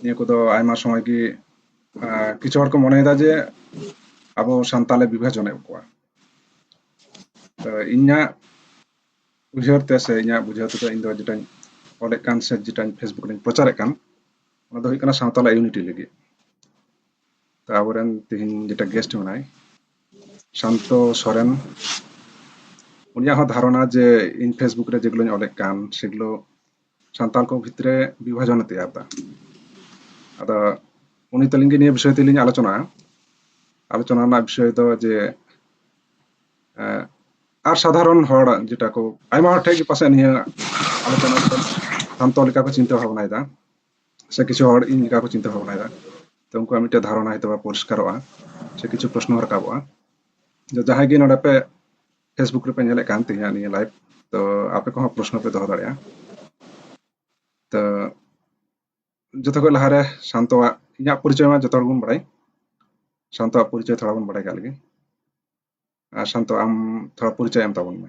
ᱱᱤᱭᱟᱹ ᱠᱚᱫᱚ ᱟᱭᱢᱟ ᱥᱚᱢᱚᱭ ᱜᱮ ᱠᱤᱪᱷᱩ ᱦᱚᱲ ᱠᱚ ᱢᱚᱱᱮᱭᱮᱫᱟ ᱡᱮ ᱟᱵᱚ ᱥᱟᱱᱛᱟᱞᱮ ᱵᱤᱵᱷᱟᱡᱚᱱᱮᱫ ᱠᱚᱣᱟ ᱛᱚ ᱤᱧᱟᱹᱜ ᱩᱭᱦᱟᱹᱨ ᱛᱮ ᱥᱮ ᱤᱧᱟᱹᱜ ᱵᱩᱡᱷᱟᱹᱣ ᱛᱮᱫᱚ ᱤᱧ ᱫᱚ ᱡᱮᱴᱟᱧ ᱚᱞᱮᱫ ᱠᱟᱱ ᱥᱮ ᱡᱮᱴᱟᱧ ᱯᱷᱮᱥᱵᱩᱠ ᱨᱮᱧ ᱯᱨᱚᱪᱟᱨᱮᱫ ᱠᱟᱱ ᱚᱱᱟ ᱫᱚ ᱦᱩᱭᱩᱜ ᱠᱟᱱᱟ ᱥᱟᱶᱛᱟᱞᱟ ᱤᱭᱩᱱᱤᱴᱤ ᱞᱟᱹᱜᱤᱫ ᱛᱚ ᱟᱵᱚᱨᱮᱱ ᱛᱮᱦᱮᱧ ᱡᱮᱴᱟ ᱜᱮᱥᱴ ᱢᱮᱱᱟᱭ ᱥᱟᱱᱛᱚ ᱥᱚᱨᱮᱱ ᱩᱱᱤᱭᱟᱜ ᱦᱚᱸ ᱫᱷᱟᱨᱚᱱᱟ ᱡᱮ ᱤᱧ ᱯᱷᱮᱥᱵᱩᱠ ᱨᱮ ᱡᱮᱜᱩলোᱧ ᱚᱞᱮᱫ ᱠᱟᱱ ᱥᱮᱜᱩᱞᱳ ᱥᱟᱱᱛᱟᱲ ᱠᱚ ᱵᱷᱤᱛᱨᱮ ᱵᱤᱵᱷᱟᱡᱚᱱᱮ ᱛᱮᱭᱟᱨ ᱮᱫᱟ ᱟᱫᱚ ᱩᱱᱤ ᱛᱟᱹᱞᱤᱧ ᱜᱮ ᱱᱤᱭᱟᱹ ᱵᱤᱥᱚᱭ ᱛᱮᱞᱤᱧ ᱟᱞᱳᱪᱚᱱᱟ ᱟᱞᱳᱪᱚᱱᱟ ᱨᱮᱱᱟᱜ ᱵᱤᱥᱚᱭ ᱫᱚ ᱡᱮ ᱟᱨ ᱥᱟᱫᱷᱟᱨᱚᱱ ᱦᱚᱲ ᱡᱮᱴᱟ ᱠᱚ ᱟᱭᱢᱟ ᱦᱚᱲ ᱴᱷᱮᱱ ᱜᱮ ᱯᱟᱥᱮᱡ ᱱᱤᱭᱟᱹ ᱟᱞᱳᱪᱚᱱᱟ ᱥᱟᱱᱛᱚ ᱞᱮᱠᱟ ᱠᱚ ᱪᱤᱱᱛᱟᱹ ᱵᱷᱟᱵᱽᱱᱟᱭᱮᱫᱟ ᱥᱮ ᱠᱤᱪᱷᱩ ᱦᱚᱲ ᱤᱧ ᱞᱮᱠᱟ ᱠᱚ ᱪᱤᱱᱛᱟᱹ ᱵᱷᱟᱵᱽᱱᱟᱭᱮᱫᱟ ᱛᱚ ᱩᱱᱠᱩᱣᱟᱜ ᱢᱤᱫᱴᱮᱱ ᱫᱷᱟᱨᱚᱱᱟ ᱦᱚᱭᱛᱳ ᱯᱚᱨᱤষ্ᱠᱟᱨᱚᱜᱼᱟ ᱥᱮ ᱠᱤᱪᱷᱩ ᱯᱨᱚᱥᱱᱚ ᱨᱟᱠᱟᱵᱚᱜᱼᱟ ᱡᱟᱦᱟᱸᱭ ᱜᱮ ᱱᱚᱰᱮ ᱯᱮ ᱯᱷᱮᱥᱵᱩᱠ ᱨᱮᱯᱮ ᱧᱮᱞᱮᱫ ᱠᱟᱱ ᱛᱮᱦᱮᱧᱟᱜ ᱱᱤᱭᱟᱹ ᱞᱟᱭᱤᱵ ᱛᱚ ᱟᱯᱮ ᱠᱚᱦᱚᱸ ᱯᱨᱚᱥᱱᱚ ᱯᱮ ᱫᱚᱦᱚ ᱫᱟᱲᱮᱭᱟᱜᱼᱟ ᱛᱚ ᱡᱚᱛᱚ ᱠᱷᱚᱱ ᱞᱟᱦᱟᱨᱮ ᱥᱟᱱᱛᱚᱣᱟᱜ ᱤᱧᱟᱹᱜ ᱯᱚᱨᱤᱪᱚᱭ ᱢᱟ ᱡᱚᱛᱚ ᱦᱚᱲ ᱵᱚᱱ ᱵᱟᱲᱟᱭ ᱥᱟᱱᱛᱚᱣᱟᱜ ᱯᱚᱨᱤᱪᱚᱭ ᱛᱷᱚᱲᱟ ᱵᱚᱱ ᱵᱟᱲᱟᱭ ᱠᱟᱜ ᱞᱮᱜᱮ ᱟᱨ ᱥᱟᱱᱛᱚ ᱟᱢ ᱛᱷᱚᱲᱟ ᱯᱚᱨᱤᱪᱚᱭ ᱮᱢ ᱛᱟᱵᱚᱱ ᱢᱮ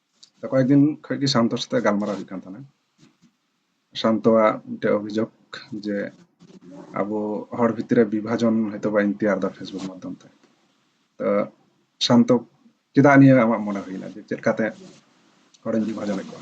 ᱛᱚ ᱠᱚᱭᱮᱠ ᱫᱤᱱ ᱠᱷᱚᱡ ᱜᱮ ᱥᱟᱱᱛᱚ ᱥᱟᱛᱮ ᱜᱟᱞᱢᱟᱨᱟᱣ ᱦᱩᱭᱩᱜ ᱠᱟᱱ ᱛᱟᱦᱮᱱᱟ ᱥᱟᱱᱛᱚᱣᱟᱜ ᱢᱤᱫᱴᱮᱡ ᱚᱵᱷᱤᱡᱳᱜᱽ ᱡᱮ ᱟᱵᱚ ᱦᱚᱲ ᱵᱷᱤᱛᱨᱤ ᱵᱤᱵᱷᱟᱡᱚᱱ ᱦᱚᱭᱛᱳ ᱵᱟᱭ ᱛᱮᱭᱟᱨ ᱫᱟ ᱯᱷᱮᱥᱵᱩᱠ ᱢᱟᱫᱽᱫᱷᱚᱢ ᱛᱮ ᱛᱚ ᱥᱟᱱᱛᱚ ᱪᱮᱫᱟᱜ ᱱᱤᱭᱟᱹ ᱟᱢᱟᱜ ᱢᱚᱱᱮ ᱦᱩᱭᱱᱟ ᱡᱮ ᱪᱮᱫ ᱞᱮᱠᱟᱛᱮ ᱦᱚᱲᱤᱧ ᱵᱤᱵᱷᱟᱡᱚᱱᱮᱫ ᱠᱚᱣᱟ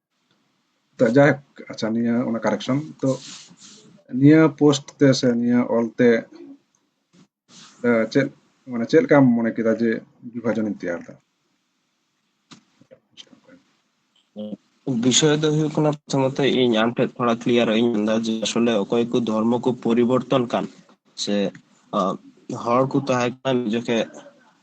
ᱛᱚ ᱡᱟᱭᱦᱳᱠ ᱟᱪᱪᱷᱟ ᱱᱤᱭᱟᱹ ᱚᱱᱟ ᱠᱟᱨᱮᱠᱥᱚᱱ ᱛᱚ ᱱᱤᱭᱟᱹ ᱯᱳᱥᱴ ᱛᱮ ᱥᱮ ᱱᱤᱭᱟᱹ ᱚᱞ ᱛᱮ ᱪᱮᱫ ᱢᱟᱱᱮ ᱪᱮᱫ ᱞᱮᱠᱟᱢ ᱢᱚᱱᱮ ᱠᱮᱫᱟ ᱡᱮ ᱵᱤᱵᱷᱟᱡᱚᱱᱤᱧ ᱛᱮᱭᱟᱨ ᱫᱟ বিষয় ᱫᱚ ᱦᱩᱭᱩᱜ ᱠᱟᱱᱟ ᱯᱨᱚᱛᱷᱚᱢᱚᱛ ᱤᱧ ᱟᱢ ᱴᱷᱮᱱ ᱛᱷᱚᱲᱟ ᱠᱞᱤᱭᱟᱨ ᱤᱧ ᱢᱮᱱᱫᱟ ᱡᱮ ᱟᱥᱚᱞᱮ ᱚᱠᱚᱭ ᱠᱚ ᱫᱷᱚᱨᱢᱚ ᱠᱚ ᱯᱚᱨᱤᱵᱚᱨᱛᱚᱱ ᱠᱟᱱ ᱥᱮ ᱦᱚᱲ ᱠᱚ ᱛᱟᱦᱮᱸ ᱠᱟᱱᱟ ᱡᱚᱠᱷᱮᱡ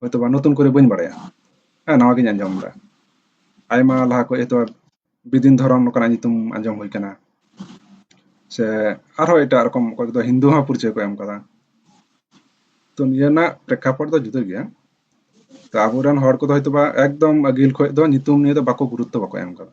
ᱦᱚᱭᱛᱚ ᱵᱟ ᱱᱚᱛᱩᱱ ᱠᱚᱨᱮ ᱵᱟᱹᱧ ᱵᱟᱲᱟᱭᱟ ᱦᱮᱸ ᱱᱟᱣᱟ ᱜᱤᱧ ᱟᱸᱡᱚᱢ ᱮᱫᱟ ᱟᱭᱢᱟ ᱞᱟᱦᱟ ᱠᱷᱚᱡ ᱦᱚᱭᱛᱚ ᱵᱤᱫᱤᱱ ᱫᱷᱚᱨᱚᱢ ᱱᱚᱝᱠᱟᱱᱟᱜ ᱧᱩᱛᱩᱢ ᱟᱸᱡᱚᱢ ᱦᱩᱭ ᱠᱟᱱᱟ ᱥᱮ ᱟᱨᱦᱚᱸ ᱮᱴᱟᱜ ᱨᱚᱠᱚᱢ ᱚᱠᱚᱭ ᱠᱚᱫᱚ ᱦᱤᱱᱫᱩ ᱦᱚᱸ ᱯᱚᱨᱤᱪᱚᱭ ᱠᱚ ᱮᱢ ᱠᱟᱫᱟ ᱛᱚ ᱱᱤᱭᱟᱹ ᱨᱮᱱᱟᱜ ᱯᱨᱮক্ষᱟᱯᱚᱴ ᱫᱚ ᱡᱩᱫᱟᱹ ᱜᱮᱭᱟ ᱛᱚ ᱟᱵᱚᱨᱮᱱ ᱦᱚᱲ ᱠᱚᱫᱚ ᱦᱚᱭᱛᱚ ᱵᱟ ᱮᱠᱫᱚᱢ ᱟᱹᱜᱤᱞ ᱠᱷᱚᱡ ᱫᱚ ᱧᱩᱛᱩᱢ ᱱᱤᱭᱟᱹ ᱫᱚ ᱵᱟᱠᱚ ᱜᱩᱨᱩᱛᱛᱚ ᱵᱟᱠᱚ ᱮᱢ ᱠᱟᱫᱟ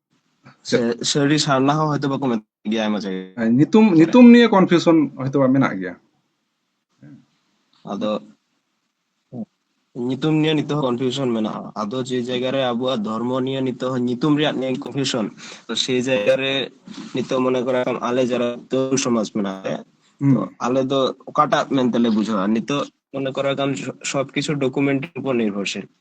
ᱥᱟᱹᱨᱤ ᱥᱟᱨᱱᱟ ᱦᱚᱸ ᱦᱚᱭᱛᱚ ᱵᱟᱠᱚ ᱢᱮᱛᱟᱜ ᱜᱮᱭᱟ ᱟᱭᱢᱟ ᱡᱟᱭᱜᱟ ᱧᱩᱛᱩᱢ ᱧᱩᱛᱩᱢ ᱱᱤᱭᱮ ᱠᱚᱱᱯᱷᱤᱭᱩᱥᱚᱱ ᱦᱚᱭᱛᱚ ᱵᱟ ᱢᱮᱱᱟᱜ ᱜᱮᱭᱟ ᱟᱫᱚ ᱧᱩᱛᱩᱢ ᱱᱤᱭᱮ ᱱᱤᱛᱚᱜ ᱦᱚᱸ ᱠᱚᱱᱯᱷᱤᱭᱩᱥᱚᱱ ᱢᱮᱱᱟᱜᱼᱟ ᱟᱫᱚ ᱡᱮ ᱡᱟᱭᱜᱟ ᱨᱮ ᱟᱵᱚᱣᱟᱜ ᱫᱷᱚᱨᱢᱚ ᱱᱤᱭᱮ ᱱᱤᱛᱚᱜ ᱦᱚᱸ ᱧᱩᱛᱩᱢ ᱨᱮᱭᱟᱜ ᱱᱤᱭᱮ ᱠᱚᱱᱯᱷᱤᱭᱩᱥᱚᱱ ᱛᱚ ᱥᱮ ᱡᱟᱭᱜᱟ ᱨᱮ ᱱᱤᱛᱚᱜ ᱢᱚᱱᱮ ᱠᱚᱨᱟ ᱟᱞᱮ ᱡᱟᱨᱟ ᱛᱚ ᱥᱚᱢᱟᱡᱽ ᱢᱮᱱᱟᱜ ᱞᱮᱭᱟ ᱛᱚ ᱟᱞᱮ ᱫᱚ ᱚᱠᱟᱴᱟᱜ ᱢᱮᱱᱛᱮ ᱞᱮ ᱵᱩᱡᱷᱟᱹᱣᱟ ᱱᱤᱛᱚᱜ ᱢᱚᱱᱮ ᱠᱚᱨᱟ ᱠᱟᱢ ᱥᱚᱵ ᱠᱤᱪᱷᱩ ᱰᱚᱠᱩᱢᱮᱱᱴ ᱩᱯᱚᱨ ᱱᱤᱨᱵᱷᱚᱨᱥᱤᱞ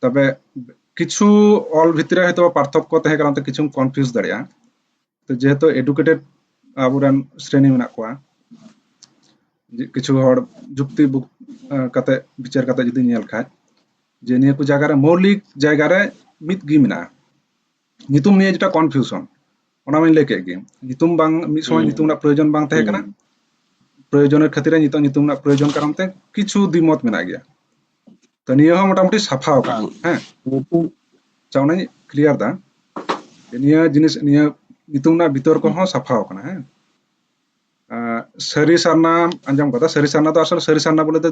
ᱛᱚᱵᱮ ᱠᱤᱪᱷᱩ ᱚᱞ ᱵᱷᱤᱛᱨᱤ ᱨᱮ ᱦᱚᱭᱛᱳ ᱯᱟᱨᱛᱷᱚᱠᱠᱚ ᱛᱟᱦᱮᱸ ᱠᱟᱱᱟ ᱛᱚ ᱠᱤᱪᱷᱩᱢ ᱠᱚᱱᱯᱷᱤᱭᱩᱡᱽ ᱫᱟᱲᱮᱭᱟᱜᱼᱟ ᱛᱚ ᱡᱮᱦᱮᱛᱩ ᱮᱰᱩᱠᱮᱴᱮᱰ ᱟᱵᱚᱨᱮᱱ ᱥᱨᱮᱱᱤ ᱢᱮᱱᱟᱜ ᱠᱚᱣᱟ ᱠᱤᱪᱷᱩ ᱦᱚᱲ ᱡᱩᱠᱛᱤ ᱠᱟᱛᱮ ᱵᱤᱪᱟᱹᱨ ᱠᱟᱛᱮ ᱡᱩᱫᱤ ᱧᱮᱞ ᱠᱷᱟᱡ ᱡᱮ ᱱᱤᱭᱟᱹ ᱠᱚ ᱡᱟᱭᱜᱟ ᱨᱮ ᱢᱳᱣᱞᱤᱠ ᱡᱟᱭᱜᱟ ᱨᱮ ᱢᱤᱫ ᱜᱮ ᱢᱮᱱᱟᱜᱼᱟ ᱧᱩᱛᱩᱢ ᱱᱤᱭᱮ ᱡᱮᱴᱟ ᱠᱚᱱᱯᱷᱤᱭᱩᱥᱚᱱ ᱚᱱᱟ ᱢᱟᱧ ᱞᱟᱹᱭ ᱠᱮᱫ ᱜᱮ ᱧᱩᱛᱩᱢ ᱵᱟᱝ ᱢᱤᱫ ᱥᱚᱢᱚᱭ ᱧᱩᱛᱩᱢ ᱨᱮᱱᱟᱜ ᱯᱨᱚᱭᱳᱡᱚᱱ ᱵᱟᱝ ᱛᱟᱦᱮᱸ ᱠᱟᱱᱟ ᱯᱨᱚᱭᱳᱡᱚᱱᱮᱨ ᱠᱷᱟᱹᱛᱤᱨ ᱱᱤᱛᱚᱜ ᱧᱩᱛᱩᱢ ᱨᱮᱱᱟᱜ ᱯᱨᱚᱭᱳᱡᱚᱱ ᱠᱟᱨᱚᱱ ᱛᱮ ᱠᱤᱪᱷᱩ ᱫᱤᱢᱚᱛ ᱢᱮᱱᱟᱜ ᱜᱮᱭᱟ ᱛᱚ ᱱᱤᱭᱟᱹ ᱦᱚᱸ ᱢᱚᱴᱟᱢᱩᱴᱤ ᱥᱟᱯᱷᱟ ᱟᱠᱟᱱᱟ ᱦᱮᱸ ᱧᱩᱛᱩᱢ ᱟᱪᱪᱷᱟ ᱚᱱᱟᱧ ᱠᱞᱤᱭᱟᱨ ᱫᱟ ᱱᱤᱭᱟᱹ ᱡᱤᱱᱤᱥ ᱱᱤᱭᱟᱹ ᱧᱩᱛᱩᱢ ᱨᱮᱱᱟᱜ ᱵᱤᱛᱚᱨ ᱠᱚᱦᱚᱸ ᱥᱟᱯᱷᱟ ᱟᱠᱟᱱᱟ ᱦᱮᱸ ᱥᱟᱹᱨᱤ ᱥᱟᱨᱱᱟ ᱟᱸᱡᱚᱢ ᱠᱟᱫᱟ ᱥᱟᱹᱨᱤ ᱥᱟᱨᱱᱟ ᱫᱚ ᱟᱥᱚᱞ ᱥᱟᱹᱨᱤ ᱥᱟᱨᱱᱟ ᱵᱚᱞᱮ ᱫᱚ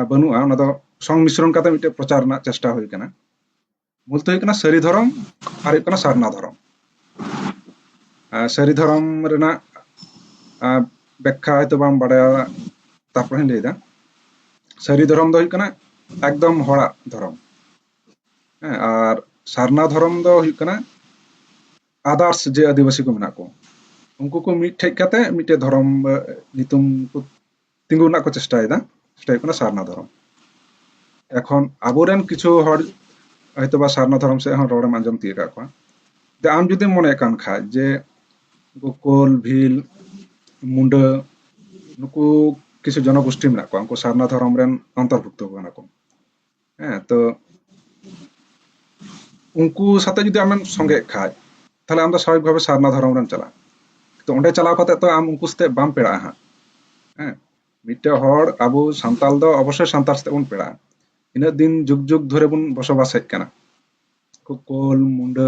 ᱵᱟᱹᱱᱩᱜᱼᱟ ᱚᱱᱟ ᱫᱚ ᱥᱚᱝᱢᱤᱥᱨᱚᱱ ᱠᱟᱛᱮ ᱢᱤᱫᱴᱮᱡ ᱯᱨᱚᱪᱟᱨ ᱨᱮᱱᱟᱜ ᱪᱮᱥᱴᱟ ᱦᱩᱭ ᱟᱠᱟᱱᱟ ᱢᱩᱞ ᱫᱚ ᱦᱩᱭᱩᱜ ᱠᱟᱱᱟ ᱥᱟᱹᱨᱤ ᱫᱷᱚᱨᱚᱢ ᱟᱨ ᱦᱩᱭᱩᱜ ᱠᱟᱱᱟ ᱥᱟᱨᱱᱟ ᱫᱷᱚᱨᱚᱢ ᱥᱟᱹᱨᱤ ᱫᱷᱚᱨᱚᱢ ᱨᱮᱱᱟᱜ ᱵᱮᱠᱠᱷᱟ ᱦᱚᱭᱛᱚ ᱵᱟᱢ ᱵᱟᱰᱟᱭᱟ ᱛᱟᱨᱯᱚᱨᱮᱧ ᱞᱟᱹᱭᱫᱟ ᱥᱟᱹᱨᱤ ᱫᱷᱚᱨᱚᱢ ᱫᱚ ᱦᱩᱭᱩᱜ ᱠᱟᱱᱟ ᱮᱠᱫᱚᱢ ᱦᱚᱲᱟᱜ ᱫᱷᱚᱨᱚᱢ ᱦᱮᱸ ᱟᱨ ᱥᱟᱨᱱᱟ ᱫᱷᱚᱨᱚᱢ ᱫᱚ ᱦᱩᱭᱩᱜ ᱠᱟᱱᱟ ᱟᱫᱟᱨᱥ ᱡᱮ ᱟᱹᱫᱤᱵᱟᱹᱥᱤ ᱠᱚ ᱢᱮᱱᱟᱜ ᱠᱚ ᱩᱱᱠᱩ ᱠᱚ ᱢᱤᱫᱴᱷᱮᱡ ᱠᱟᱛᱮ ᱢᱤᱫᱴᱮᱡ ᱫᱷᱚᱨᱚᱢ ᱧᱩᱛᱩᱢ ᱠᱚ ᱛᱤᱸᱜᱩ ᱨᱮᱱᱟᱜ ᱠᱚ ᱪᱮᱥᱴᱟᱭᱮᱫᱟ ᱥᱮᱴᱟ ᱦᱩᱭᱩᱜ ᱠᱟᱱᱟ ᱥᱟᱨᱱᱟ ᱫᱷᱚᱨᱚᱢ ᱮᱠᱷᱚᱱ ᱟᱵᱚᱨᱮᱱ ᱠᱤᱪᱷᱩ ᱦᱚᱲ ᱦᱚᱭᱛᱳ ᱵᱟ ᱥᱟᱨᱱᱟ ᱫᱷᱚᱨᱚᱢ ᱥᱮᱫ ᱦᱚᱸ ᱨᱚᱲᱮᱢ ᱟᱸᱡᱚᱢ ᱛᱤᱭᱳᱜ ᱟᱠᱟᱫ ᱠᱚᱣᱟ ᱡᱮ ᱟᱢ ᱡᱩᱫᱤᱢ ᱢᱚᱱᱮ ᱠᱟᱱ ᱠᱷᱟᱡ ᱡᱮ ᱜᱳᱠᱳᱞ ᱵᱷᱤᱞ ᱢᱩᱰᱟᱹ ᱱᱩᱠᱩ ᱠᱤᱪᱷᱩ ᱡᱚᱱᱚᱜᱳᱥᱴᱤ ᱢᱮᱱᱟᱜ ᱠᱚᱣᱟ ᱩᱱᱠᱩ ᱥᱟᱨᱱᱟ ᱫᱷᱚᱨᱚᱢ ᱨᱮᱱ ᱚᱱᱛᱚᱨᱵᱷᱩᱠᱛᱚ ᱠᱟᱱᱟ ᱠᱚ ᱦᱮᱸ ᱛᱚ ᱩᱱᱠᱩ ᱥᱟᱛᱮ ᱡᱩᱫᱤ ᱟᱢᱮᱢ ᱥᱚᱸᱜᱮᱜ ᱠᱷᱟᱡ ᱛᱟᱦᱞᱮ ᱟᱢ ᱫᱚ ᱥᱟᱵᱷᱟᱵᱤᱠ ᱵᱷᱟᱵᱮ ᱥᱟᱨᱱᱟ ᱫᱷᱚᱨᱚᱢ ᱨᱮᱢ ᱪᱟᱞᱟᱜᱼᱟ ᱛᱚ ᱚᱸᱰᱮ ᱪᱟᱞᱟᱣ ᱠᱟᱛᱮ ᱛᱚ ᱟᱢ ᱩᱱᱠᱩ ᱥᱟᱛᱮ ᱵᱟᱢ ᱯᱮᱲᱟᱜᱼᱟ ᱦᱟᱸᱜ ᱦᱮᱸ ᱢᱤᱫᱴᱮᱱ ᱦᱚᱲ ᱟᱵᱚ ᱥᱟᱱᱛᱟᱞ ᱫᱚ ᱚᱵᱚᱥᱥᱳᱭ ᱥᱟᱱᱛᱟᱲ ᱥᱟᱛᱮ ᱵᱚᱱ ᱯᱮᱲᱟᱜᱼᱟ ᱤᱱᱟᱹᱜ ᱫᱤᱱ ᱡᱩᱜᱽ ᱡᱩᱜᱽ ᱫᱷᱚᱨᱮ ᱵᱚᱱ ᱵᱚᱥᱚᱵᱟᱥ ᱦᱮᱡ ᱠᱟᱱᱟ ᱠᱳᱞ ᱢᱩᱸᱰᱟᱹ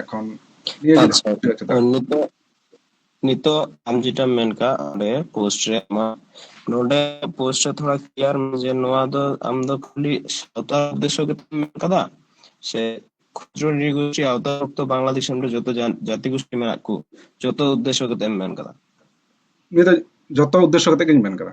ᱮᱠᱷᱚᱱ ᱟᱪᱪᱷᱟ ᱱᱤᱛᱚᱜ ᱱᱤᱛᱚᱜ ᱟᱢ ᱡᱮᱴᱟᱢ ᱢᱮᱱ ᱠᱟᱜ ᱚᱸᱰᱮ ᱯᱳᱥᱴ ᱨᱮ ᱟᱢᱟᱜ ᱱᱚᱰᱮ ᱯᱳᱥᱴ ᱨᱮ ᱛᱷᱚᱲᱟ ᱠᱞᱤᱭᱟᱨ ᱢᱮ ᱡᱮ ᱱᱚᱣᱟ ᱫᱚ ᱟᱢ ᱫᱚ ᱠᱷᱟᱹᱞᱤ ᱥᱟᱶᱛᱟ ᱩᱫᱽᱫᱮᱥᱥᱚ ᱜᱮᱛᱚᱢ ᱢᱮᱱ ᱠᱟᱫᱟ ᱥᱮ ᱠᱷᱩᱪᱨᱚ ᱱᱤᱨᱜᱳᱥᱴᱤ ᱟᱣᱛᱟ ᱚᱠᱛᱚ ᱵᱟᱝᱞᱟ ᱫᱤᱥᱚᱢ ᱨᱮ ᱡᱚᱛᱚ ᱡᱟᱹᱛᱤ ᱜᱳᱥᱴᱤ ᱢᱮᱱᱟᱜ ᱠᱚ ᱡᱚᱛᱚ ᱩᱫᱽᱫᱮᱥᱥᱚ ᱠᱟᱛᱮᱢ ᱢᱮᱱ ᱠᱟᱫᱟ ᱱᱤᱭᱟᱹ ᱫᱚ ᱡᱚᱛᱚ ᱩᱫᱽᱫᱮᱥᱥᱚ ᱠᱟᱛᱮ ᱜᱤᱧ ᱢᱮᱱ ᱠᱟᱫᱟ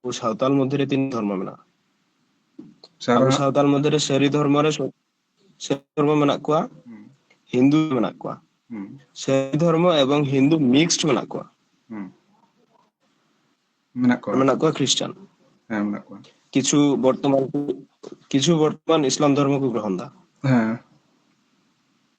ᱟᱵᱚ ᱥᱟᱶᱛᱟᱞ ᱢᱚᱫᱽᱫᱷᱮ ᱨᱮ ᱛᱤᱱᱟᱹᱜ ᱫᱷᱚᱨᱢᱚ ᱢᱮᱱᱟᱜᱼᱟ ᱟᱵᱚ ᱥᱟᱨᱱᱟ ᱥᱟᱶᱛᱟᱞ ᱢᱚᱫᱽᱫᱷᱮ ᱨᱮ ᱥᱟᱹᱨᱤ ᱫᱷᱚᱨᱢᱚ ᱨᱮ ᱥᱟᱹᱨᱤ ᱫᱷᱚᱨᱢᱚ ᱢᱮᱱᱟᱜ ᱠᱚᱣᱟ ᱦᱤᱱᱫᱩ ᱢᱮᱱᱟᱜ ᱠᱚᱣᱟ ᱥᱟᱹᱨᱤ ᱫᱷᱚᱨᱢᱚ ᱮᱵᱚᱝ ᱦᱤᱱᱫᱩ ᱢᱤᱠᱥᱰ ᱢᱮᱱᱟᱜ ᱠᱚᱣᱟ ᱢᱮᱱᱟᱜ ᱠᱚᱣᱟ ᱢᱮᱱᱟᱜ ᱠᱚᱣᱟ ᱠᱷᱨᱤᱥᱴᱟᱱ ᱦᱮᱸ ᱢᱮᱱᱟᱜ ᱠᱚᱣᱟ ᱠᱤᱪᱷᱩ ᱵᱚᱨᱛᱚᱢᱟᱱ ᱠᱤᱪᱷᱩ ᱵᱚᱨᱛᱚᱢᱟᱱ ᱤᱥᱞᱟᱢ ᱫᱷᱚᱨᱢᱚ ᱠᱚ ᱜᱨᱚᱦᱚᱱ ᱫᱟ ᱦᱮᱸ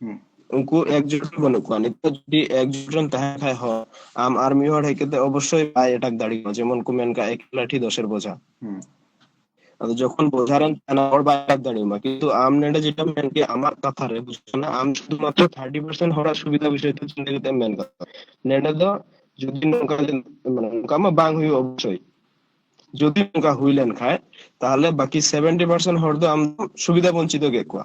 ᱦᱩᱸ ᱩᱱᱠᱩ ᱮᱠᱡᱩᱴ ᱜᱮ ᱵᱟᱹᱱᱩᱜ ᱠᱚᱣᱟ ᱱᱤᱛᱚᱜ ᱡᱩᱫᱤ ᱮᱠᱡᱩᱴ ᱨᱮᱢ ᱛᱟᱦᱮᱱ ᱠᱷᱟᱡ ᱦᱚᱸ ᱟᱢ ᱟᱨ ᱢᱤᱫ ᱦᱚᱲ ᱦᱮᱡ ᱠᱟᱛᱮ ᱚᱵᱚᱥᱥᱳᱭ ᱵᱟᱭ ᱮᱴᱟᱠ ᱫᱟᱲᱮᱭᱟᱢᱟ ᱡᱮᱢᱚᱱ ᱠᱚ ᱢᱮᱱ ᱠᱟᱜ ᱮᱠ ᱞᱟᱴᱷᱤ ᱫᱚᱥᱮᱨ ᱵᱚᱡᱷᱟ ᱦᱩᱸ ᱟᱫᱚ ᱡᱚᱠᱷᱚᱱ ᱵᱚᱡᱷᱟ ᱨᱮᱢ ᱛᱟᱦᱮᱱᱟ ᱦᱚᱲ ᱵᱟᱭ ᱮᱴᱟᱠ ᱫᱟᱲᱮᱭᱟᱢᱟ ᱠᱤᱱᱛᱩ ᱟᱢ ᱱᱚᱰᱮ ᱡᱮᱴᱟᱢ ᱢᱮᱱ ᱠᱮᱜ ᱟᱢᱟᱜ ᱠᱟᱛᱷᱟ ᱨᱮ ᱚᱱᱟ ᱟᱢ ᱥᱩᱫᱷᱩ ᱢᱟᱛᱨᱚ ᱛᱷᱟᱴᱴᱤ ᱯᱟᱨᱥᱮᱱ ᱦᱚᱲᱟᱜ ᱥᱩᱵᱤᱫᱷᱟ ᱵᱤᱥᱚᱭ ᱛᱮ ᱪᱤᱱᱛᱟᱹ ᱠᱟᱛᱮᱢ ᱢᱮᱱ ᱫᱟ ᱱᱮᱰᱮ ᱫᱚ ᱡᱩᱫᱤ ᱱᱚᱝᱠᱟ ᱡᱮ ᱢᱟᱱᱮ ᱱᱚᱝᱠᱟ ᱢᱟ ᱵᱟᱝ ᱦᱩᱭᱩᱜᱼᱟ ᱚᱵᱚᱥᱥᱳᱭ ᱡᱩᱫᱤ ᱱᱚᱝᱠᱟ ᱦᱩᱭ ᱞᱮᱱᱠᱷᱟᱡ ᱛᱟᱦᱚᱞᱮ ᱵᱟᱠᱤ ᱥᱮᱵᱷᱮᱱᱴᱤ ᱯᱟᱨᱥᱮᱱ ᱦᱚᱲ ᱫᱚ ᱟᱢ ᱥᱩᱵᱤᱫᱷᱟ ᱵᱚᱧᱪᱤᱛ ᱠᱮᱫ ᱠᱚᱣᱟ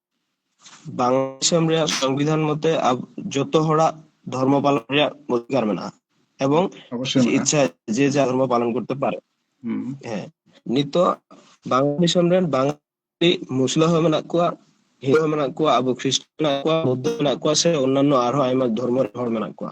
ᱵᱟᱝᱞᱟ ᱫᱤᱥᱚᱢ ᱨᱮᱭᱟᱜ ᱥᱚᱝᱵᱤᱫᱷᱟᱱ ᱢᱚᱛᱮ ᱡᱚᱛᱚ ᱦᱚᱲᱟᱜ ᱫᱷᱚᱨᱢᱚ ᱯᱟᱞᱚᱱ ᱨᱮᱭᱟᱜ ᱚᱫᱷᱤᱠᱟᱨ ᱢᱮᱱᱟᱜᱼᱟ ᱮᱵᱚᱝ ᱤᱪᱪᱷᱟ ᱡᱮ ᱡᱟᱨ ᱫᱷᱚᱨᱢᱚ ᱯᱟᱞᱚᱱ ᱠᱚᱨᱛᱮ ᱯᱟᱨᱮ ᱦᱮᱸ ᱱᱤᱛᱚᱜ ᱵᱟᱝᱞᱟ ᱫᱤᱥᱚᱢ ᱨᱮᱱ ᱵᱟᱝᱟᱞᱤ ᱢᱩᱥᱞᱟᱹ ᱦᱚᱸ ᱢᱮᱱᱟᱜ ᱠᱚᱣᱟ ᱦᱤᱱᱫᱩ ᱦᱚᱸ ᱢᱮᱱᱟᱜ ᱠᱚᱣᱟ ᱟᱵᱚ ᱠᱷᱨᱤᱥᱴ ᱢᱮᱱᱟᱜ ᱠᱚᱣᱟ ᱵᱳᱫᱫᱷᱚ ᱢᱮᱱᱟᱜ ᱠᱚᱣᱟ ᱥᱮ ᱚᱱᱱᱟᱱᱚ ᱟᱨᱦᱚᱸ ᱟᱭᱢᱟ ᱫᱷᱚᱨᱢᱚ ᱨᱮᱱ ᱦᱚᱲ ᱢᱮᱱᱟᱜ ᱠᱚᱣᱟ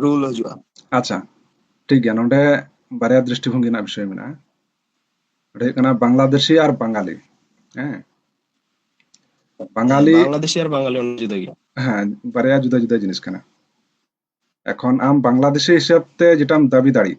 ᱨᱩᱞ ᱦᱤᱡᱩᱜᱼᱟ ᱟᱪᱪᱷᱟ ᱴᱷᱤᱠ ᱜᱮᱭᱟ ᱱᱚᱰᱮ ᱵᱟᱨᱭᱟ ᱫᱨᱤᱥᱴᱤᱵᱷᱚᱝᱜᱤ ᱨᱮᱱᱟᱜ ᱵᱤᱥᱚᱭ ᱢᱮᱱᱟᱜᱼᱟ ᱱᱚᱰᱮ ᱦᱩᱭᱩᱜ ᱠᱟᱱᱟ ᱵᱟᱝᱞᱟᱫᱮᱥᱤ ᱟᱨ ᱵᱟᱝᱜᱟᱞᱤ ᱦᱮᱸ ᱵᱟᱝᱜᱟᱞᱤ ᱵᱟᱝᱞᱟᱫᱮᱥᱤ ᱟᱨ ᱵᱟᱝᱜᱟᱞᱤ ᱚᱱᱟ ᱡᱩᱫᱟᱹ ᱜᱮᱭᱟ ᱦᱮᱸ ᱵᱟᱨᱭᱟ ᱡᱩᱫᱟᱹ ᱡᱩᱫᱟᱹ ᱡᱤᱱᱤᱥ ᱠᱟᱱᱟ ᱮᱠᱷᱚᱱ ᱟᱢ ᱵᱟᱝᱞᱟᱫᱮᱥᱤ ᱦᱤᱥᱟᱹᱵ ᱛᱮ ᱡᱮᱴᱟᱢ ᱫᱟᱹᱵᱤ ᱫᱟᱲᱮᱜ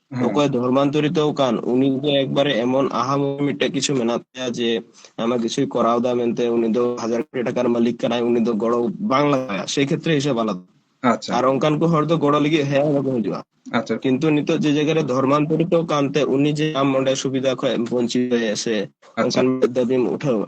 ᱦᱮᱸ ᱚᱠᱚᱭ ᱫᱷᱚᱨᱢᱟᱱᱛᱚᱨᱤ ᱫᱚ ᱠᱟᱱ ᱩᱱᱤ ᱫᱚ ᱮᱠᱵᱟᱨᱮ ᱮᱢᱚᱱ ᱟᱦᱟ ᱢᱚᱦᱟ ᱢᱤᱫᱴᱮᱡ ᱠᱤᱪᱷᱩ ᱢᱮᱱᱟᱜ ᱛᱟᱭᱟ ᱡᱮ ᱟᱭᱢᱟ ᱠᱤᱪᱷᱩᱭ ᱠᱚᱨᱟᱣ ᱮᱫᱟ ᱢᱮᱱᱛᱮ ᱩᱱᱤ ᱫᱚ ᱦᱟᱡᱟᱨ ᱠᱳᱴᱤ ᱴᱟᱠᱟ ᱨᱮᱱ ᱢᱟᱹᱞᱤᱠ ᱠᱟᱱᱟᱭ ᱩᱱᱤ ᱫᱚ ᱜᱚᱲᱚ ᱵᱟᱝ ᱞᱟᱜᱟᱣᱟᱭᱟ ᱥᱮ ᱠᱷᱮᱛᱨᱮ ᱦᱤᱥᱟᱹᱵ ᱟᱞᱟᱫᱟ ᱟᱪᱪᱷᱟ ᱟᱨ ᱚᱱᱠᱟᱱ ᱠᱚ ᱦᱚᱲ ᱫᱚ ᱜᱚᱲᱚ ᱞᱟᱹᱜᱤᱫ ᱦᱮ ᱦᱚᱸ ᱵᱟᱠᱚ ᱦᱤᱡᱩᱜᱼᱟ ᱟᱪᱪᱷᱟ ᱠᱤᱱᱛᱩ ᱱᱤᱛᱚᱜ ᱡᱮ ᱡᱟᱭᱜᱟ ᱨᱮ ᱫᱷᱚᱨᱢᱟᱱᱛᱚᱨᱤ ᱫᱚ ᱠᱟᱱᱛᱮ ᱩᱱᱤ ᱡᱮ ᱟᱢ ᱚᱸᱰᱮ ᱥᱩᱵᱤᱫᱷᱟ ᱠᱷᱚᱡ ᱵᱚᱧᱪᱤᱛ ᱢᱮᱭᱟᱭ ᱥᱮ ᱟᱪᱪᱷᱟ ᱚᱱᱠᱟᱱ ᱢᱤᱫ ᱫᱟᱹᱵᱤᱢ ᱩᱴᱷᱟᱹᱣᱟ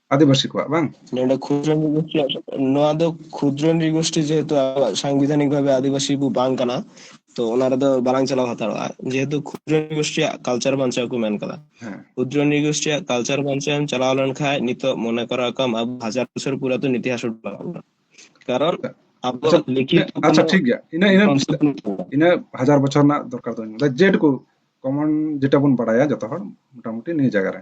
ᱟᱹᱫᱤᱵᱟᱹᱥᱤ ᱠᱚᱣᱟᱜ ᱵᱟᱝ ᱱᱚᱰᱮ ᱠᱷᱩᱫᱨᱚ ᱱᱨᱤᱜᱳᱥᱴᱤ ᱱᱚᱣᱟ ᱫᱚ ᱠᱷᱩᱫᱨᱚ ᱱᱨᱤᱜᱳᱥᱴᱤ ᱡᱮᱦᱮᱛᱩ ᱟᱵᱚᱣᱟᱜ ᱥᱟᱝᱵᱤᱫᱷᱟᱱᱤᱠ ᱵᱷᱟᱵᱮ ᱟᱹᱫᱤᱵᱟᱹᱥᱤ ᱵᱚ ᱵᱟᱝ ᱠᱟᱱᱟ ᱛᱚ ᱚᱱᱟ ᱨᱮᱫᱚ ᱵᱟᱞᱟᱝ ᱪᱟᱞᱟᱣ ᱦᱟᱛᱟᱲᱚᱜᱼᱟ ᱡᱮᱦᱮᱛᱩ ᱠᱷᱩᱫᱨᱚ ᱱᱨᱤᱜᱳᱥᱴᱤᱭᱟᱜ ᱠᱟᱞᱪᱟᱨ ᱵᱟᱧᱪᱟᱣ ᱠᱚ ᱢᱮᱱ ᱠᱟᱫᱟ ᱠᱷᱩᱫᱨᱚ ᱱᱨᱤᱜᱳᱥᱴᱤᱭᱟᱜ ᱠᱟᱞᱪᱟᱨ ᱵᱟᱧᱪᱟᱣ ᱮᱢ ᱪᱟᱞᱟᱣ ᱞᱮᱱᱠᱷᱟᱱ ᱱᱤᱛᱚᱜ ᱢᱚᱱᱮ ᱠᱚᱨᱟᱣ ᱠᱟᱢ ᱟᱵᱚ ᱦᱟᱡᱟᱨ ᱵᱚᱪᱷᱚᱨ ᱯᱩᱨᱟᱛᱚᱱ ᱤᱛᱤᱦᱟᱥ ᱩᱰᱩᱠᱚᱜᱼᱟ ᱠᱟᱨᱚᱱ ᱟᱵᱚ ᱞᱤᱠᱷᱤᱛ ᱟᱪᱪᱷᱟ ᱴᱷᱤᱠ ᱜᱮᱭᱟ ᱤᱱᱟᱹ ᱤᱱᱟᱹ ᱤᱱᱟᱹ ᱦᱟᱡᱟᱨ ᱵᱚᱪᱷᱚᱨ ᱨᱮᱱᱟᱜ ᱫᱚᱨᱠᱟর ᱫᱚ ᱡᱮᱴᱩᱠᱩ ᱠᱚᱢᱚᱱ ᱡᱮᱴᱟ ᱵᱚᱱ ᱵᱟᱲᱟᱭᱟ ᱡᱚᱛᱚ ᱦᱚᱲ ᱢᱚᱴᱟᱢᱩᱴᱤ ᱱᱤᱭᱟᱹ ᱡᱟᱭᱜᱟ ᱨᱮ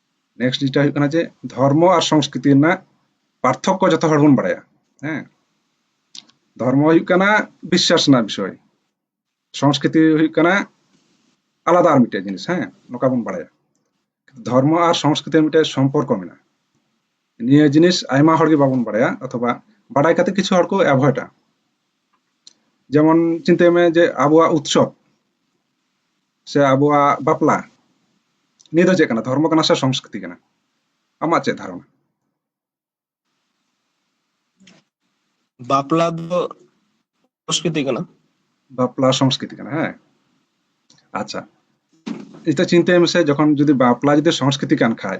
ᱱᱮᱠᱥᱴ ᱡᱤᱱᱤᱥᱴᱟ ᱦᱩᱭᱩᱜ ᱠᱟᱱᱟ ᱡᱮ ᱫᱷᱚᱨᱢᱚ ᱟᱨ ᱥᱚᱝᱥᱠᱨᱤᱛᱤ ᱨᱮᱱᱟᱜ ᱯᱟᱨᱛᱷᱚᱠᱠᱚ ᱡᱚᱛᱚ ᱦᱚᱲ ᱵᱚᱱ ᱵᱟᱲᱟᱭᱟ ᱦᱮᱸ ᱫᱷᱚᱨᱢᱚ ᱦᱩᱭᱩᱜ ᱠᱟᱱᱟ ᱵᱤᱥᱥᱟᱥ ᱨᱮᱱᱟᱜ ᱵᱤᱥᱚᱭ ᱥᱚᱝᱥᱠᱨᱤᱛᱤ ᱦᱩᱭᱩᱜ ᱠᱟᱱᱟ ᱟᱞᱟᱫᱟ ᱟᱨ ᱢᱤᱫᱴᱮᱡ ᱡᱤᱱᱤᱥ ᱦᱮᱸ ᱱᱚᱝᱠᱟ ᱵᱚᱱ ᱵᱟᱲᱟᱭᱟ ᱫᱷᱚᱨᱢᱚ ᱟᱨ ᱥᱚᱝᱥᱠᱨᱤᱛᱤ ᱢᱤᱫᱴᱮᱡ ᱥᱚᱢᱯᱚᱨᱠᱚ ᱢᱮᱱᱟᱜᱼᱟ ᱱᱤᱭᱟᱹ ᱡᱤᱱᱤᱥ ᱟᱭᱢᱟ ᱦᱚᱲ ᱜᱮ ᱵᱟᱵᱚᱱ ᱵᱟᱲᱟᱭᱟ ᱚᱛᱷᱚᱵᱟ ᱵᱟᱰᱟᱭ ᱠᱟᱛᱮ ᱠᱤᱪᱷᱩ ᱦᱚᱲ ᱠᱚ ᱮᱵᱷᱚᱭᱰᱟ ᱡᱮᱢᱚᱱ ᱪᱤᱱᱛᱟᱹᱭ ᱢᱮ ᱡᱮ ᱟᱵᱚᱣᱟᱜ ᱩᱛᱥᱚᱵ ᱥᱮ ᱟᱵᱚᱣᱟᱜ ᱵᱟᱯᱞᱟ ᱱᱤᱭᱟᱹ ᱫᱚ ᱪᱮᱫ ᱠᱟᱱᱟ ᱫᱷᱚᱨᱢᱚ ᱠᱟᱱᱟ ᱥᱮ ᱥᱚᱝᱥᱠᱨᱤᱛᱤ ᱠᱟᱱᱟ ᱟᱢᱟᱜ ᱪᱮᱫ ᱫᱷᱟᱨᱚᱱᱟ ᱵᱟᱯᱞᱟ ᱫᱚ ᱥᱚᱝᱥᱠᱨᱤᱛᱤ ᱠᱟᱱᱟ ᱵᱟᱯᱞᱟ ᱥᱚᱝᱥᱠᱨᱤᱛᱤ ᱠᱟᱱᱟ ᱦᱮᱸ ᱟᱪᱪᱷᱟ ᱱᱤᱛᱚᱜ ᱪᱤᱱᱛᱟᱹᱭ ᱢᱮᱥᱮ ᱡᱚᱠᱷᱚᱱ ᱡᱩᱫᱤ ᱵᱟᱯᱞᱟ ᱡᱩᱫᱤ ᱥᱚᱝᱥᱠᱨᱤᱛᱤ ᱠᱟᱱ ᱠᱷᱟᱡ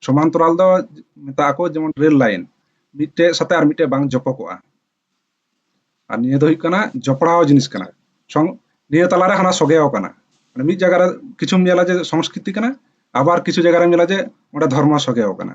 ᱥᱚᱢᱟᱱᱛᱚᱨᱟᱞ ᱫᱚ ᱢᱮᱛᱟᱜ ᱟᱠᱚ ᱡᱮᱢᱚᱱ ᱨᱮᱞ ᱞᱟᱭᱤᱱ ᱢᱤᱫᱴᱮᱡ ᱥᱟᱛᱮ ᱟᱨ ᱢᱤᱫᱴᱮᱡ ᱵᱟᱝ ᱡᱚᱯᱚᱜᱚᱜᱼᱟ ᱟᱨ ᱱᱤᱭᱟᱹ ᱫᱚ ᱦᱩᱭᱩᱜ ᱠᱟᱱᱟ ᱡᱚᱯᱲᱟᱣ ᱡᱤᱱᱤᱥ ᱠᱟᱱᱟ ᱥᱚᱝ ᱱᱤᱭᱟᱹ ᱛᱟᱞᱟᱨᱮ ᱦᱟᱱᱟ ᱥᱚᱜᱮᱣ ᱠᱟᱱᱟ ᱢᱟᱱᱮ ᱢᱤᱫ ᱡᱟᱭᱜᱟ ᱨᱮ ᱠᱤᱪᱷᱩᱢ ᱧᱮᱞᱟ ᱡᱮ ᱥᱚᱝᱥᱠᱨᱤᱛᱤ ᱠᱟᱱᱟ ᱟᱵᱟᱨ ᱠᱤᱪᱷᱩ ᱡᱟᱭᱜᱟ ᱨᱮᱢ ᱧᱮᱞᱟ ᱡᱮ ᱚᱸᱰᱮ ᱫᱷᱚᱨᱢᱚ ᱥᱚᱜᱮᱣ ᱠᱟᱱᱟ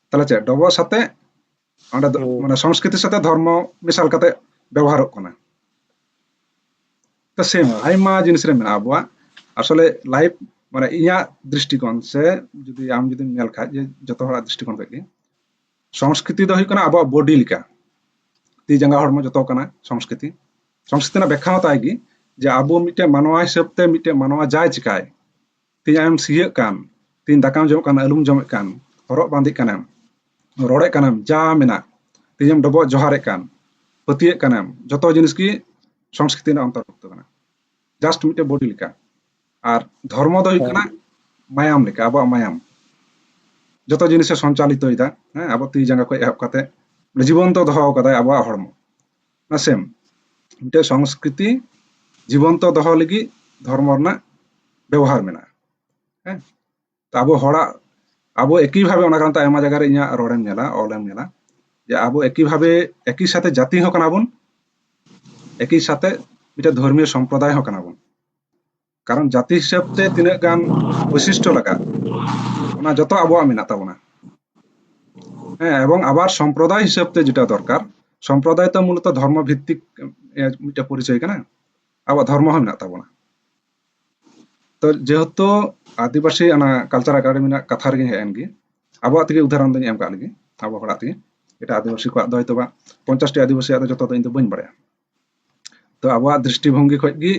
ᱛᱟᱦᱚᱞᱮ ᱪᱮᱫ ᱰᱚᱵᱚ ᱥᱟᱛᱮ ᱚᱸᱰᱮ ᱫᱚ ᱢᱟᱱᱮ ᱥᱚᱝᱥᱠᱨᱤᱛᱤ ᱥᱟᱛᱮ ᱫᱷᱚᱨᱢᱚ ᱢᱮᱥᱟᱞ ᱠᱟᱛᱮ ᱵᱮᱵᱚᱦᱟᱨᱚᱜ ᱠᱟᱱᱟ ᱛᱚ ᱥᱮᱢ ᱟᱭᱢᱟ ᱡᱤᱱᱤᱥ ᱨᱮ ᱢᱮᱱᱟᱜᱼᱟ ᱟᱵᱚᱣᱟᱜ ᱟᱥᱚᱞᱮ ᱞᱟᱭᱤᱯ ᱢᱟᱱᱮ ᱤᱧᱟᱹᱜ ᱫᱨᱤᱥᱴᱤᱠᱳᱱ ᱥᱮ ᱡᱩᱫᱤ ᱟᱢ ᱡᱩᱫᱤᱢ ᱧᱮᱞ ᱠᱷᱟᱡ ᱡᱮ ᱡᱚᱛᱚ ᱦᱚᱲᱟᱜ ᱫᱨᱤᱥᱴᱤᱠᱳᱱ ᱠᱷᱚᱡ ᱜᱮ ᱥᱚᱝᱥᱠᱨᱤᱛᱤ ᱫᱚ ᱦᱩᱭᱩᱜ ᱠᱟᱱᱟ ᱟᱵᱚᱣᱟᱜ ᱵᱚᱰᱤ ᱞᱮᱠᱟ ᱛᱤ ᱡᱟᱸᱜᱟ ᱦᱚᱲᱢᱚ ᱡᱚᱛᱚ ᱠᱟᱱᱟ ᱥᱚᱝᱥᱠᱨᱤᱛᱤ ᱥᱚᱝᱥᱠᱨᱤᱛᱤ ᱨᱮᱱᱟᱜ ᱵᱮᱠᱷᱟ ᱦᱚᱸ ᱛᱟᱭ ᱜᱮ ᱡᱮ ᱟᱵᱚ ᱢᱤᱫᱴᱮᱱ ᱢᱟᱱᱣᱟ ᱦᱤᱥᱟᱹᱵ ᱛᱮ ᱢᱤᱫᱴᱮᱱ ᱢᱟᱱᱣᱟ ᱡᱟᱭ ᱪᱤᱠᱟᱭ ᱛᱮᱦᱮᱧ ᱟᱢᱮᱢ ᱥᱤᱭᱟᱹᱜ ᱠᱟᱱ ᱛᱮᱦᱮᱧ ᱫᱟᱠᱟᱢ ᱡᱚᱢᱮᱫ ᱠᱟᱱ ᱟᱹᱞᱩᱢ ᱡᱚᱢᱮᱫ ᱠᱟᱱ ᱦᱚᱨᱚᱜ ᱵᱟᱸᱫᱮᱜ ᱠᱟᱱᱮᱢ ᱨᱚᱲᱮᱫ ᱠᱟᱱᱮᱢ ᱡᱟ ᱢᱮᱱᱟᱜ ᱛᱮᱦᱮᱧᱮᱢ ᱰᱚᱵᱚᱜ ᱡᱚᱦᱟᱨᱮᱫ ᱠᱟᱱ ᱯᱟᱹᱛᱭᱟᱹᱜ ᱠᱟᱱᱮᱢ ᱡᱚᱛᱚ ᱡᱤᱱᱤᱥ ᱜᱮ ᱥᱚᱝᱥᱠᱨᱤᱛᱤ ᱨᱮᱱᱟᱜ ᱚᱱᱛᱚᱨᱵᱷᱩᱠᱛᱚ ᱠᱟᱱᱟ ᱡᱟᱥᱴ ᱢᱤᱫᱴᱮᱱ ᱵᱚᱰᱤ ᱞᱮᱠᱟ ᱟᱨ ᱫᱷᱚᱨᱢᱚ ᱫᱚ ᱦᱩᱭᱩᱜ ᱠᱟᱱᱟ ᱢᱟᱭᱟᱢ ᱞᱮᱠᱟ ᱟᱵᱚᱣᱟᱜ ᱢᱟᱭᱟᱢ ᱡᱚᱛᱚ ᱡᱤᱱᱤᱥᱮ ᱥᱚᱧᱪᱟᱞᱤᱛᱚᱭᱮᱫᱟ ᱦᱮᱸ ᱟᱵᱚ ᱛᱤ ᱡᱟᱸᱜᱟ ᱠᱷᱚᱱ ᱮᱦᱚᱵ ᱠᱟᱛᱮ ᱡᱤᱵᱚᱱᱛᱚ ᱫᱚᱦᱚ ᱠᱟᱫᱟᱭ ᱟᱵᱚᱣᱟᱜ ᱦᱚᱲᱢᱚ ᱱᱟᱥᱮᱢ ᱢᱤᱫᱴᱮᱱ ᱥᱚᱝᱥᱠᱨᱤᱛᱤ ᱡᱤᱵᱚᱱᱛᱚ ᱫᱚᱦᱚ ᱞᱟᱹᱜᱤᱫ ᱫᱷᱚᱨᱢᱚ ᱨᱮᱱᱟᱜ ᱵᱮᱵᱚᱦᱟᱨ ᱢᱮᱱᱟᱜᱼᱟ ᱦᱮᱸ ᱛᱚ ᱟᱵᱚ ᱦᱚᱲᱟᱜ ᱟᱵᱚ ᱮᱠᱤ ᱵᱷᱟᱵᱮ ᱚᱱᱟ ᱠᱟᱨᱚᱱ ᱛᱮ ᱟᱭᱢᱟ ᱡᱟᱭᱜᱟ ᱨᱮ ᱤᱧᱟᱹᱜ ᱨᱚᱲᱮᱢ ᱧᱮᱞᱟ ᱚᱞᱮᱢ ᱧᱮᱞᱟ ᱡᱮ ᱟᱵᱚ ᱮᱠᱤ ᱵᱷᱟᱵᱮ ᱮᱠᱤ ᱥᱟᱛᱮ ᱡᱟᱹᱛᱤ ᱦᱚᱸ ᱠᱟᱱᱟ ᱵᱚᱱ ᱮᱠᱤ ᱥᱟᱛᱮ ᱢᱤᱫᱴᱮᱱ ᱫᱷᱚᱨᱢᱤᱭᱚ ᱥᱚᱢᱯᱨᱚᱫᱟᱭ ᱦᱚᱸ ᱠᱟᱱᱟ ᱵᱚᱱ ᱠᱟᱨᱚᱱ ᱡᱟᱹᱛᱤ ᱦᱤᱥᱟᱹᱵ ᱛᱮ ᱛᱤᱱᱟᱹᱜ ᱜᱟᱱ ᱵᱳᱭᱥᱤᱥᱴᱚ ᱞᱟᱜᱟᱜ ᱚᱱᱟ ᱡᱚᱛᱚ ᱟᱵᱚᱣᱟᱜ ᱢᱮᱱᱟᱜ ᱛᱟᱵᱚᱱᱟ ᱦᱮᱸ ᱮᱵᱚᱝ ᱟᱵᱟᱨ ᱥᱚᱢᱯᱨᱚᱫᱟᱭ ᱦᱤᱥᱟᱹᱵ ᱛᱮ ᱡᱮᱴᱟ ᱫᱚᱨᱠᱟর ᱥᱚᱢᱯᱨᱚᱫᱟᱭ ᱛᱚ ᱢᱩᱞᱚᱛᱚ ᱫᱷᱚᱨᱢᱚ ᱵᱷᱤᱛᱛᱤᱠ ᱢᱤᱫᱴᱮᱱ ᱯᱚᱨᱤᱪᱚᱭ ᱠᱟᱱᱟ ᱟᱵᱚ ᱫᱷᱚᱨᱢᱚ ᱦᱚᱸ ᱢᱮᱱᱟᱜ ᱛᱟᱵᱚᱱᱟ ᱛᱚ ᱡᱮᱦᱮᱛᱩ ᱟᱹᱫᱤᱵᱟᱹᱥᱤ ᱚᱱᱟ ᱠᱟᱞᱪᱟᱨ ᱮᱠᱟᱰᱮᱢᱤ ᱨᱮᱱᱟᱜ ᱠᱟᱛᱷᱟ ᱨᱮᱜᱮ ᱦᱮᱡ ᱮᱱ ᱜᱮ ᱟᱵᱚᱣᱟᱜ ᱛᱮᱜᱮ ᱩᱫᱟᱦᱚᱨᱚᱱ ᱫᱚᱧ ᱮᱢ ᱠᱟᱜ ᱞᱮᱜᱮ ᱟᱵᱚ ᱦᱚᱲᱟᱜ ᱛᱮᱜᱮ ᱮᱴᱟᱜ ᱟᱹᱫᱤᱵᱟᱹᱥᱤ ᱠᱚᱣᱟᱜ ᱫᱚ ᱦᱚᱭᱛᱚ ᱵᱟᱝ ᱯᱚᱧᱪᱟᱥᱴᱤ ᱟᱹᱫᱤᱵᱟᱹᱥᱤᱭᱟᱜ ᱫᱚ ᱡᱚᱛᱚ ᱫᱚ ᱤᱧ ᱫᱚ ᱵᱟᱹᱧ ᱵᱟᱲᱟᱭᱟ ᱛᱚ ᱟᱵᱚᱣᱟᱜ ᱫᱨᱤᱥᱴᱤ ᱵᱷᱚᱝᱜᱤ ᱠᱷᱚᱡ ᱜᱮ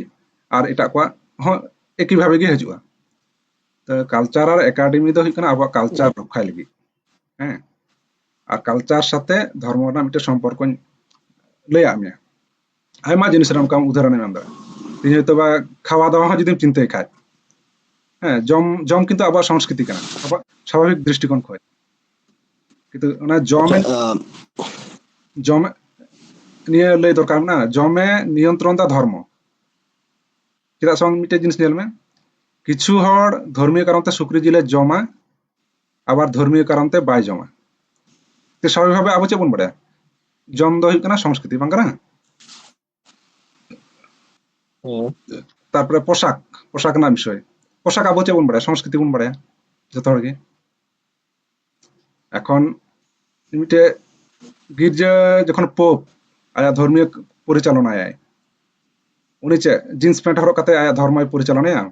ᱟᱨ ᱮᱴᱟᱜ ᱠᱚᱣᱟᱜ ᱦᱚᱸ ᱮᱠᱤ ᱵᱷᱟᱵᱮ ᱜᱮ ᱦᱤᱡᱩᱜᱼᱟ ᱛᱚ ᱠᱟᱞᱪᱟᱨ ᱟᱨ ᱮᱠᱟᱰᱮᱢᱤ ᱫᱚ ᱦᱩᱭᱩᱜ ᱠᱟᱱᱟ ᱟᱵᱚᱣᱟᱜ ᱠᱟᱞᱪᱟᱨ ᱨᱚᱠᱷᱟᱭ ᱞᱟᱹᱜᱤᱫ ᱦᱮᱸ ᱟᱨ ᱠᱟᱞᱪᱟᱨ ᱥᱟᱛᱮ ᱫᱷᱚᱨᱢᱚ ᱨᱮᱱᱟᱜ ᱢᱤᱫᱴᱮᱱ ᱥᱚᱢᱯᱚᱨᱠᱚᱧ ᱞᱟᱹᱭᱟᱫ ᱢᱮᱭᱟ ᱟᱭᱢᱟ ᱡᱤᱱᱤᱥ ᱨᱮ ᱚᱱᱠᱟ ᱩᱫᱟᱦᱚᱨᱚᱱᱮᱢ ᱮᱢ ᱫᱟᱲᱮᱭᱟᱜᱼᱟ ᱛᱮᱦᱮᱧ ᱦᱚᱭᱛᱳ ᱵᱟ ᱠᱷᱟᱣᱟ ᱫᱟᱣᱟ ᱦᱚᱸ ᱡᱩᱫᱤᱢ ᱪᱤᱱᱛᱟᱹᱭ ᱠᱷᱟᱡ ᱦᱮᱸ ᱡᱚᱢ ᱡᱚᱢ ᱠᱤᱱᱛᱩ ᱟᱵᱚᱣᱟᱜ ᱥᱚᱝᱥᱠᱨᱤᱛᱤ ᱠᱟᱱᱟ ᱟᱵᱚᱣᱟᱜ ᱥᱟᱵᱷᱟᱵᱤᱠ ᱫᱨᱤᱥᱴᱤᱠᱳণ ᱠᱷᱚᱡ ᱠᱤᱱᱛᱩ ᱚᱱᱟ ᱡᱚᱢᱮ ᱡᱚᱢᱮ ᱱᱤᱭᱟᱹ ᱞᱟᱹᱭ ᱫᱚᱨᱠᱟᱨ ᱢᱮᱱᱟᱜᱼᱟ ᱡᱚᱢᱮ ᱱᱤᱭᱚᱱᱛᱨᱚᱱ ᱫᱟ ᱫᱷᱚᱨᱢᱚ ᱪᱮᱫᱟᱜ ᱥᱮ ᱢᱤᱫᱴᱮᱡ ᱡᱤᱱᱤᱥ ᱧᱮᱞ ᱢᱮ ᱠᱤᱪᱷᱩ ᱦᱚᱲ ᱫᱷᱚᱨᱢᱤᱭᱚ ᱠᱟᱨᱚᱱ ᱛᱮ ᱥᱩᱠᱨᱤ ᱡᱤᱞᱮ ᱡᱚᱢᱟ ᱟᱵᱟᱨ ᱫᱷᱚᱨᱢᱤᱭᱚ ᱠᱟᱨᱚᱱ ᱛᱮ ᱵᱟᱭ ᱡᱚᱢᱟ ᱛᱮ ᱥᱟᱵᱷᱟᱵᱤᱠ ᱵᱷᱟᱵᱮ ᱟᱵᱚ ᱪᱮᱫ ᱵᱚᱱ ᱵᱟᱲᱟᱭᱟ ᱡᱚᱢ ᱫᱚ ᱦᱩᱭᱩᱜ ᱠᱟᱱᱟ ᱥᱚᱝᱥᱠᱨᱤᱛᱤ ᱵᱟᱝ ᱠᱟᱱᱟ ᱛᱟᱨᱯᱚᱨᱮ ᱯᱳᱥᱟᱠ ᱯᱳᱥᱟᱠ ᱨᱮᱱᱟᱜ ᱵᱤᱥᱚᱭ ᱯᱳᱥᱟᱠ ᱟᱵᱚ ᱪᱮᱫ ᱵᱚᱱ ᱵᱟᱲᱟᱭᱟ ᱥᱚᱝᱥᱠᱨᱤᱛᱤ ᱵᱚᱱ ᱵᱟᱲᱟᱭᱟ ᱡᱚᱛᱚ ᱦᱚᱲ ᱜᱮ ᱮᱠᱷᱚᱱ ᱢᱤᱫᱴᱮᱡ ᱜᱤᱨᱡᱟᱹ ᱡᱚᱠᱷᱚᱱ ᱯᱳᱯ ᱟᱭᱟᱜ ᱫᱷᱚᱨᱢᱤᱭᱚ ᱯᱚᱨᱤᱪᱟᱞᱚᱱᱟᱭᱟᱭ ᱩᱱᱤ ᱪᱮᱫ ᱡᱤᱱᱥ ᱯᱮᱱᱴ ᱦᱚᱨᱚᱜ ᱠᱟᱛᱮ ᱟᱭᱟᱜ ᱫᱷᱚᱨᱢᱚᱭ ᱯᱚᱨᱤᱪᱟᱞᱚᱱᱟᱭᱟ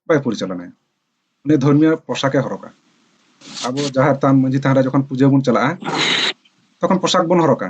ᱵᱟᱭ ᱯᱚᱨᱤᱪᱟᱞᱚᱱᱟᱭᱟ ᱩᱱᱤ ᱫᱷᱚᱨᱢᱤᱭᱚ ᱯᱳᱥᱟᱠᱮ ᱦᱚᱨᱚᱜᱟ ᱟᱵᱚ ᱡᱟᱦᱮᱨ ᱛᱷᱟᱱ ᱢᱟᱹᱡᱷᱤ ᱛᱷᱟᱱ ᱨᱮ ᱡᱚᱠᱷᱚᱱ ᱯᱩᱡᱟᱹ ᱵᱚᱱ ᱪᱟᱞᱟᱜᱼᱟ ᱛᱚᱠᱷᱚᱱ ᱯᱳᱥᱟᱠ ᱵᱚᱱ ᱦᱚᱨᱚᱜᱟ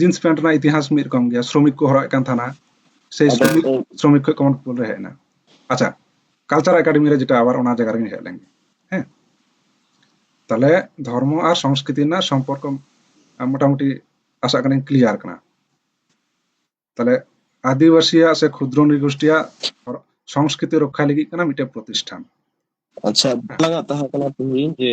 ᱡᱤᱱᱥ ᱯᱮᱱᱴ ᱨᱮᱱᱟᱜ ᱤᱛᱤᱦᱟᱥ ᱢᱤᱫ ᱨᱚᱠᱚᱢ ᱜᱮᱭᱟ ᱥᱨᱚᱢᱤᱠ ᱠᱚ ᱦᱚᱨᱚᱜ ᱮᱫ ᱠᱟᱱ ᱛᱟᱦᱮᱱᱟ ᱥᱮ ᱥᱨᱚᱢᱤᱠ ᱥᱨᱚᱢᱤᱠ ᱠᱷᱚᱱ ᱠᱚᱢᱚᱱ ᱯᱤᱯᱚᱞ ᱨᱮ ᱦᱮᱡ ᱮᱱᱟ ᱟᱪᱪᱷᱟ ᱠᱟᱞᱪᱟᱨ ᱮᱠᱟᱰᱮᱢᱤ ᱨᱮ ᱡᱮᱴᱟ ᱟᱵᱟᱨ ᱚᱱᱟ ᱡᱟᱭᱜᱟ ᱨᱮᱜᱮ ᱦᱮᱡ ᱞᱮᱱ ᱦᱮᱸ ᱛᱟᱦᱞᱮ ᱫᱷᱚᱨᱢᱚ ᱟᱨ ᱥᱚᱝᱥᱠᱨᱤᱛᱤ ᱨᱮᱱᱟᱜ ᱥᱚᱢᱯᱚᱨᱠᱚ ᱢᱚᱴᱟᱢᱩᱴᱤ ᱟᱥᱟᱜ ᱠᱟᱹᱱᱟᱹᱧ ᱠᱞᱤᱭᱟᱨ ᱠᱟᱱᱟ ᱛᱟᱦᱞᱮ ᱟᱹᱫᱤᱵᱟᱹᱥᱤᱭᱟᱜ ᱥᱮ ᱠᱷᱩᱫᱨᱚ ᱱᱤᱜᱳᱥᱴᱤᱭᱟᱜ ᱥᱚᱝᱥᱠᱨᱤᱛᱤ ᱨᱚᱠᱷᱟ ᱞᱟᱹᱜᱤᱫ ᱠᱟᱱᱟ ᱢᱤᱫᱴᱮᱱ ᱯᱨᱚᱛᱤᱥᱴᱷᱟᱱ ᱟᱪᱪᱷᱟ ᱵᱟᱝᱟ ᱛᱟᱦᱮᱸ ᱠᱟᱱᱟ ᱛᱤᱦᱤᱧ ᱡᱮ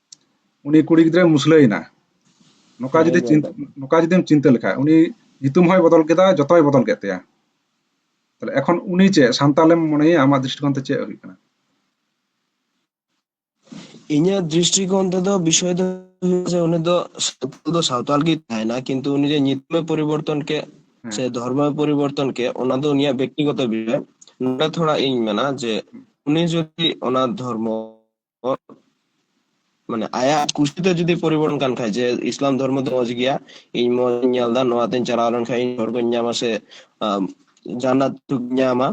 ᱩᱱᱤ ᱠᱩᱲᱤ ᱜᱤᱫᱽᱨᱟᱹ ᱢᱩᱥᱞᱟᱹᱭᱮᱱᱟ ᱱᱚᱝᱠᱟ ᱦᱮᱸ ᱡᱩᱫᱤ ᱤᱧ ᱧᱮᱞ ᱪᱤᱱᱛᱟᱹ ᱠᱟᱜ ᱠᱚᱣᱟ ᱱᱚᱝᱠᱟ ᱡᱩᱫᱤᱢ ᱪᱤᱱᱛᱟᱹ ᱞᱮᱠᱷᱟᱡ ᱩᱱᱤ ᱧᱩᱛᱩᱢ ᱦᱚᱸᱭ ᱵᱚᱫᱚᱞ ᱠᱮᱫᱟ ᱡᱚᱛᱚᱭ ᱵᱚᱫᱚᱞ ᱠᱮᱫ ᱛᱟᱭᱟ ᱛᱟᱦᱞᱮ ᱮᱠᱷᱚᱱ ᱩᱱᱤ ᱪᱮᱫ ᱥᱟᱱᱛᱟᱞᱮᱢ ᱢᱚᱱᱮᱭᱟ ᱟᱢᱟᱜ ᱫᱨᱤᱥᱴᱤᱠᱳᱱ ᱛᱮ ᱪᱮᱫ ᱦᱩᱭᱩᱜ ᱠᱟᱱᱟ ᱤᱧᱟᱹᱜ ᱫᱨᱤᱥᱴᱤᱠᱳᱱ ᱛᱮᱫᱚ ᱵᱤᱥᱚᱭ ᱫᱚ ᱡᱮ ᱩᱱᱤ ᱫᱚ ᱥᱟᱱᱛᱟᱞ ᱫᱚ ᱥᱟᱶᱛᱟᱞ ᱜᱮ ᱛᱟᱦᱮᱱᱟ ᱠᱤᱱᱛᱩ ᱩᱱᱤ ᱡᱮ ᱧᱩᱛᱩᱢᱮ ᱯᱚᱨᱤᱵᱚᱨᱛᱚᱱ ᱠᱮᱫ ᱥᱮ ᱦᱮᱸ ᱫᱷᱚᱨᱢᱚᱭ ᱯᱚᱨᱤᱵᱚᱨᱛᱚᱱ ᱠᱮᱫ ᱚᱱᱟ ᱫᱚ ᱩᱱᱤᱭᱟᱜ ᱵᱮᱠᱛᱤᱜᱚᱛᱚ ᱵᱤᱥᱚᱭ ᱱᱚᱰᱮ ᱛᱷᱚᱲᱟ ᱤᱧ ᱢᱮᱱᱟ ᱡᱮ ᱩᱱᱤ ᱡᱩᱫᱤ ᱚᱱᱟ ᱫᱷᱚᱨᱢᱚ ᱢᱟᱱᱮ ᱟᱭᱟᱜ ᱠᱩᱥᱤᱛᱮ ᱡᱩᱫᱤ ᱯᱚᱨᱤᱵᱚᱨᱛᱚᱱ ᱠᱟᱱ ᱠᱷᱟᱡ ᱡᱮ ᱤᱥᱞᱟᱢ ᱫᱷᱚᱨᱢᱚ ᱫᱚ ᱢᱚᱡᱽ ᱜᱮᱭᱟ ᱤᱧ ᱢᱚᱡᱽ ᱤᱧ ᱧᱮᱞ ᱫᱟ ᱱᱚᱣᱟ ᱛᱮᱧ ᱪᱟᱞᱟᱣ ᱞᱮᱱ ᱠᱷᱟᱡ ᱤᱧ ᱦᱚᱲ ᱠᱚᱧ ᱧᱟᱢᱟ ᱥᱮ ᱡᱟᱱᱱᱟᱛ ᱧᱟᱢᱟ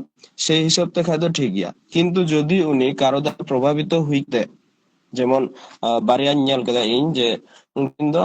ᱥᱮ ᱦᱤᱥᱟᱹᱵ ᱛᱮ ᱠᱷᱟᱡ ᱫᱚ ᱴᱷᱤᱠ ᱜᱮᱭᱟ ᱠᱤᱱᱛᱩ ᱡᱩᱫᱤ ᱩᱱᱤ ᱠᱟᱨᱚ ᱫᱚ ᱯᱨᱚᱵᱷᱟᱵᱤᱛᱚ ᱦᱩᱭ ᱛᱮ ᱡᱮᱢᱚᱱ ᱵᱟᱨᱭᱟᱧ ᱧᱮᱞ ᱠᱮᱫᱟ ᱤᱧ ᱡᱮ ᱩᱱᱠᱤᱱ ᱫᱚ